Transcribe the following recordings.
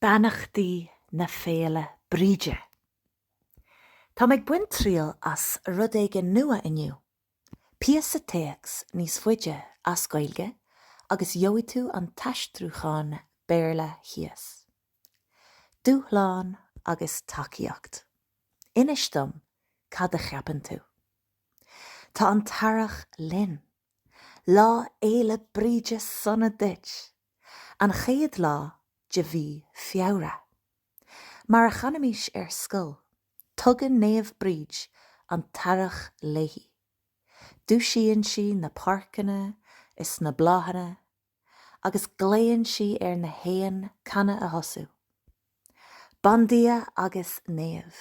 Beannachtaí na Féile Bríde! Táim ag baint triail as rud éigin nua inniu, píosa téacs níos faide as Gaeilge agus gheobhaidh tú an t-aistriúchán Béarla thíos. Dúshlán agus tacaíocht. Inis dom cad a cheapann tú. Tá an t-earrach linn! Lá Fhéile Bríde sona duit! An chéad lá de mhí Feabhra. Mar a chanaimís ar scoil, tugann Naomh Bríd an t-earrach léi. Dúisíonn sí na páirceanna is na bláthanna agus glaonn sí ar na héin canadh a thosú. Bandia agus naomh,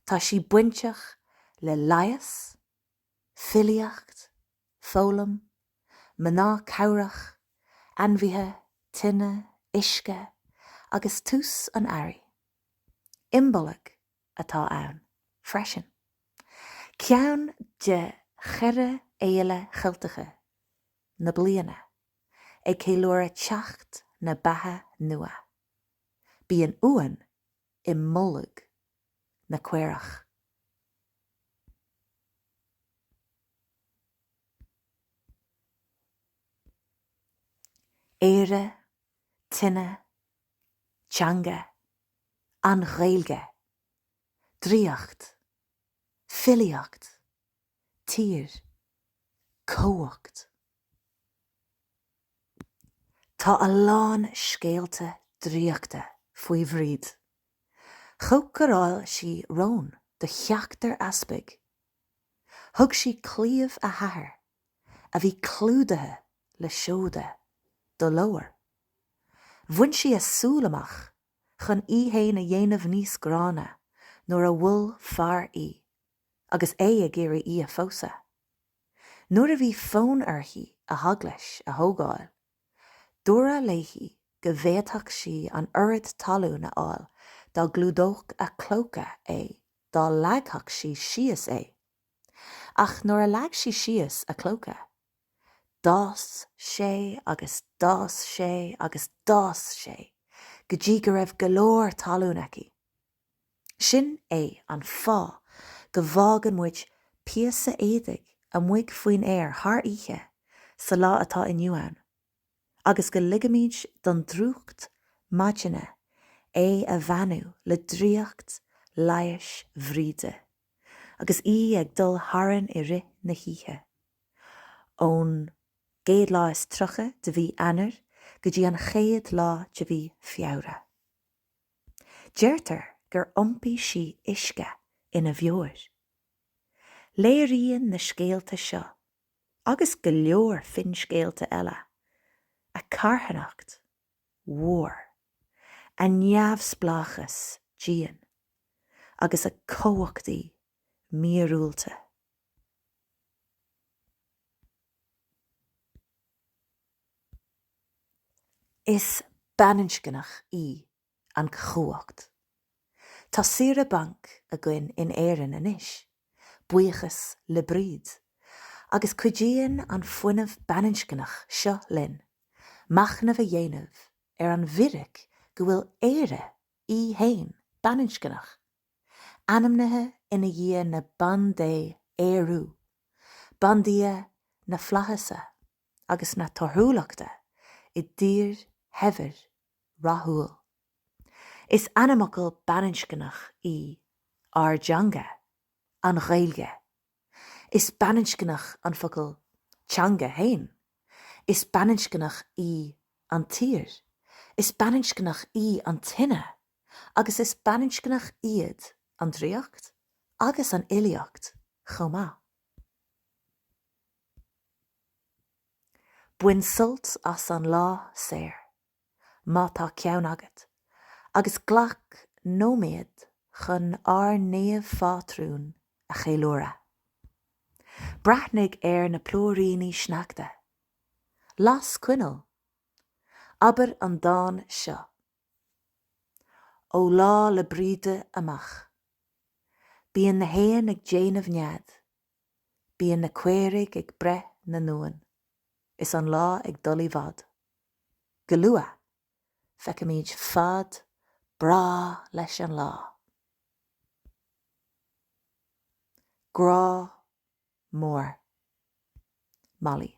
tá sí bainteach le leigheas, filíocht, foghlaim, mná cabhrach, ainmhithe, tine, uisce agus tús an earraigh. Imbolg atá ann freisin, ceann de cheithre fhéile Cheilteacha na bliana, ag ceiliúradh teacht na beatha nua. Bíonn uain i mbolg na caorach. Éire, tine, teanga, an Ghaeilge, draíocht, filíocht, tír, cumhacht. Tá a lán scéalta draíochta faoi Bhríd. Chócaráil sí rón do sheachtar easpag. Thug sí claíomh a hathar, a bhí clúdaithe le seoda, do lobhar. Bhain sí a súil amach chun í fhéin a dhéanamh níos gránna nuair a mhol fear í. agus é ag iarraidh í a phósadh. Nuair a bhí fonn uirthi a heaglais a thógáil, dúradh léi go bhféadfadh sí an oiread talún a fháil a chlúdódh a clóca é dá leagfadh sí síos é. Ach nuair a leag sí síos a clóca, d'fhás sé agus d'fhás sé agus d'fhás sé go dtí go raibh go leor talún aici. Sin é an fáth go bhfágann muid píosa éadaigh amuigh faoin aer thar oíche sa lá atá inniu ann agus go ligimid don drúcht maidine é a bheannú le draíocht leighis Bhríde agus í ag dul tharainn i rith na hoíche. Ón gcéad lá is tríocha de mhí Eanáir go dtí an chéad lá de mhí Feabhra. Deirtear gur iompaigh sí uisce ina beoir. Léiríonn na scéalta seo, agus go leor finscéalta eile, a carthanacht mhór, a neamhspleáchas dian agus a cumhachtaí míorúilte. Is baininscneach í an chumhacht. Tá saoire bainc againn in Éirinn anois, buíochas le Bríd, agus cuidíonn an fuinneamh baininscneach seo linn machnamh a dhéanamh ar an bhfíric go bhfuil Éire í fhéin baininscneach, ainmnithe i ndiaidh na bandé Ériú, bandia na flaitheasa. agus na torthúlachta i dtír shaibhir rathúil. Is ainmfhocal baininscneach í ár dteanga, an Ghaeilge. Is baininscneach an focal teanga féin. Is baininscneach í an tír. Is baininscneach í an tine. Agus is baininscneach iad an draíocht agus an fhilíocht chomh maith. Bain sult as an lá saor, má tá ceann agat, agus glac nóiméad chun ár naomhphátrún a cheiliúradh. Breathnaigh ar na plúiríní sneachta. Las coinneal. Abair an dán seo. Ó Lá 'le Bríde amach, bíonn na héin ag déanamh nead. Bíonn na caoirigh ag breith na n-uan is an lá ag dul i bhfad. Go luath, feicfimid fad breá leis an lá. Grá mór. Molly.